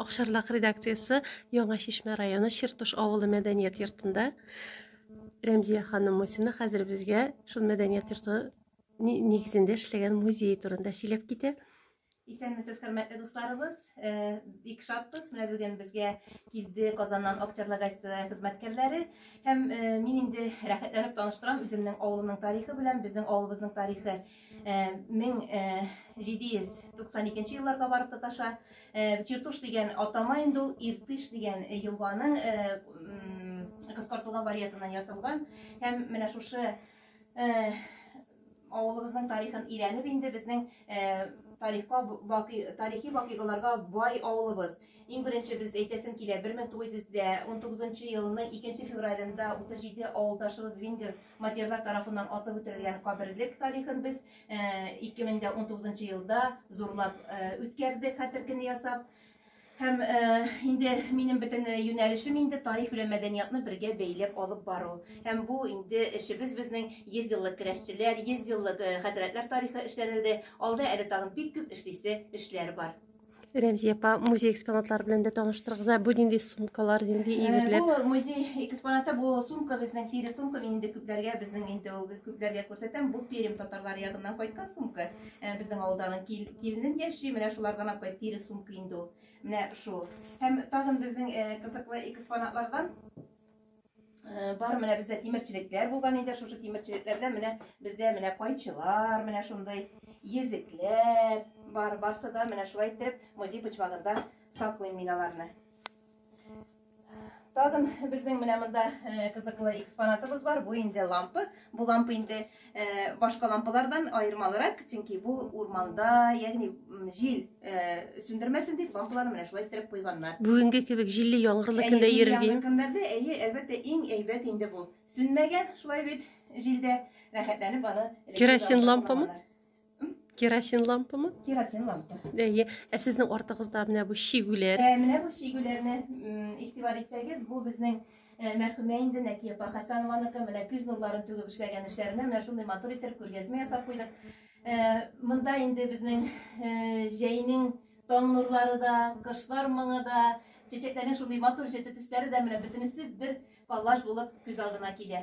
Акшарлак редакциясе Яңа Шишмә районы Чертуш авылы мәдәният йортында Рәмзия ханым Мусина хәзер безгә шул мәдәният йорты нигезендә эшләгән музей турында сөйләп китә. Исәнмесез, хөрмәтле дусларыбыз. Э, бик шатбыз. Менә бүген безгә килде Казаннан актерлар газетасы хезмәткәрләре. Һәм э, мин инде рәхәтләнеп таныштырам үземнең авылымның тарихы белән, безнең авылыбызның тарихы. 1792 елларга барып тоташа. Чертуш дигән атама инде ул Иртыш дигән елганың кыскартылган вариантыннан ясалган. Һәм менә шушы авылыбызның тарихын өйрәнеп инде безнең тарихка бакый тарихи вакыйгаларга бай авылыбыз. Иң беренче без әйтәсем килә 1919 елның 2 февралендә 37 авылдашыбыз Вингер Матерлар тарафыннан атып үтерелгән каберлек тарихын без 2019 э, елда зурлап э, үткәрдек хәтер көне ясап. Һәм э, инде минем бөтен юнәлешем инде тарих белән мәдәниятны бергә бәйләп алып бару. Һәм бу инде эшебез безнең 100 еллык керәшчеләр, 100 еллык хәзрәтләр тарихы эшләнелде. Алда әле тагын бик күп эшлисе эшләр бар. Рәмзия апа, музей экспонатлары белән дә таныштырыгыз. Ә бу нинди сумкалар, нинди әйберләр? Бу музей экспонаты бу сумка безнең тире сумка. Мин инде күпләргә безнең инде ул күпләргә күрсәтәм. Бу Пермь татарлар ягыннан кайткан сумка. Безнең авылдан кил, килнен яши, менә шулардан апай тире сумка инде ул. Менә шул. Һәм тагын безнең кызыклы экспонатлардан Э, бар менә бездә тимерчелекләр булган инде шушы тимерчелекләрдә менә бездә менә кайчылар менә шундый езекләр бар барсы да менә шулай итеп музей почмагында саклыйм мин аларны тагын безнең менә монда э, кызыклы экспонатыбыз бар бу инде лампа бу лампа инде Э, башка лампалардан аермалырак, чөнки бу урманда, ягъни җил э, сүндермәсен дип лампаларны менә шулай иттереп куйганнар. Бүгенге кебек җилле яңгырлы көндә йөрергә. Көннәрдә әйе, әлбәттә, иң әйбәт инде бу. Сүнмәгән шулай бит җилдә рәхәтләнеп аны. Керосин лампамы? Керосин лампамы? Керосин лампа. Әйе. Ә сезнең артыгызда менә бу шигүләр. Ә менә бу шигүләрне игътибар итсәгез, бу безнең Э, мәрхүмә инде Нәкия апа Хәсәнованыкы менә күз нурларын түгеп эшләгән эшләренә менә шундый матур итеп күргәзмә ясап куйдык. Э, монда инде безнең э, җәйнең таң нурлары да, кышлар моңы да, чәчәкләрнең шундый матур җете төсләре дә менә бөтенесе бер коллаж булып күз алдына килә.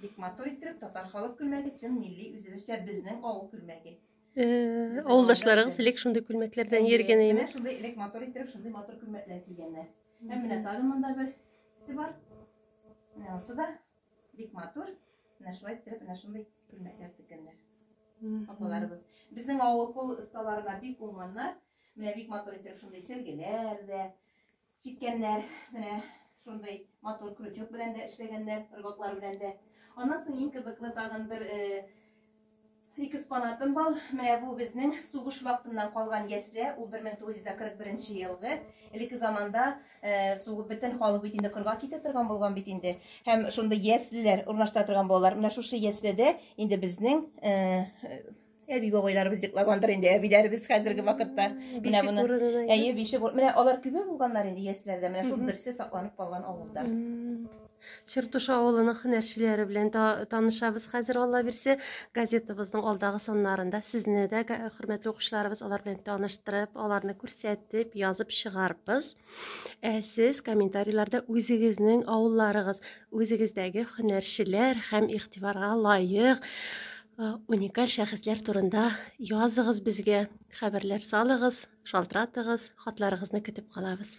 Бик матур иттереп татар халык күлмәге чын милли үзебезчә безнең авыл күлмәге. Э, Авылдашларыгыз элек шундый күлмәкләрдән йөргән әйме? Менә шундый элек матур иттереп шундый матур күлмәкләр кигәннәр. Һәм менә тагын монда бер се бар. Менә осы да бик матур. Менә шулай иттереп менә шундый күлмәкләр теккәннәр. Апаларыбыз. Безнең авыл кул осталарына бик уңганнар. Менә бик матур иттереп шундый сергеләр дә, Чиккәннәр, менә шундый матур крючок белән дә эшләгәннәр, рыбаклар белән дә. Аннан соң иң кызыклы тагын бер э, ике экспонатым бар. Менә бу безнең сугыш вакытыннан калган ясле, ул 1941 елгы. Элекке заманда э, сугып бөтен халык бит инде кырга китә торган булган бит инде. Һәм шундый яслеләр урнаштыра торган балалар. Менә шушы яследә инде безнең э, Әби бабайларыбыз йоклагандыр инде, әбиләребез хәзерге вакытта менә моны. Әйе, бише бур. Менә алар күбе булганнар инде яшьләрдә. Менә шул берсе сакланып калган авылда. Чертуш авылының һөнәрчеләре белән танышабыз хәзер алла бирсә газетабызның алдагы саннарында сезне дә хөрмәтле укучыларыбыз алар белән таныштырып аларны күрсәтеп язып чыгарбыз Ә сез комментарийларда үзегезнең авылларыгыз, үзегездәге һөнәрчеләр һәм игътибарга лаек уникаль шәхесләр турында языгыз безгә, хәбәрләр салыгыз, шалтыратыгыз, хатларыгызны көтеп калабыз.